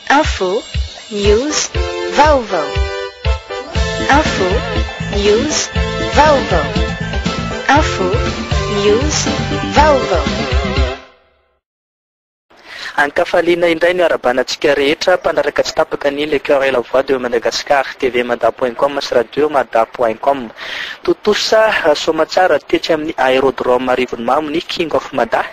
Info, news, vaovao. Info, news, vaovao. Info, news, vaovao. Ankafaliana indray ny harabana antsika rehetra mpanaraka tsy tapaka ny Le Cœur et la Voix de Madagascar, TV Mada point com sy Radio Mada point com. Tontosa soamatsara tetsy amin'ny Aérodrome Arivonimamo ny King of Mada,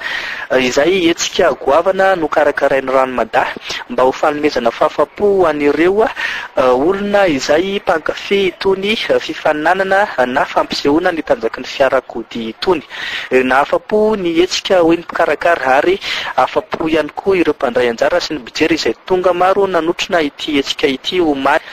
izay hetsika goavana nokarakarain'ny Rano Mada mba ho fanomezana fahafahampo ho an'ireo olona izay mpankafy itony fifaninanana na fampisehoana ny tanjaky ny fiarakodia itony. Nahafapo ny hetsika hoy ny mpikarakara ary afapo ihany koa ireo mpandray anjara sy ny mpijery izay tonga maro nanotrona ity hetsika ity omaly.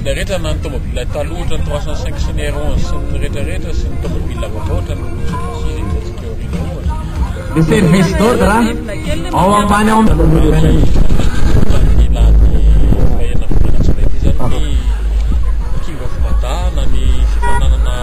Ilay rehetra na ny tomobila taloha ohatran'ny trois cent cinq sy ny R onze sy ny rehetra rehetra sy ny tomobila vaovao ohatran'ny Mitsubishi izay nijantsika eo aoriana eo ohatra. Ny service d'ordre ao ambany ao amin'ny.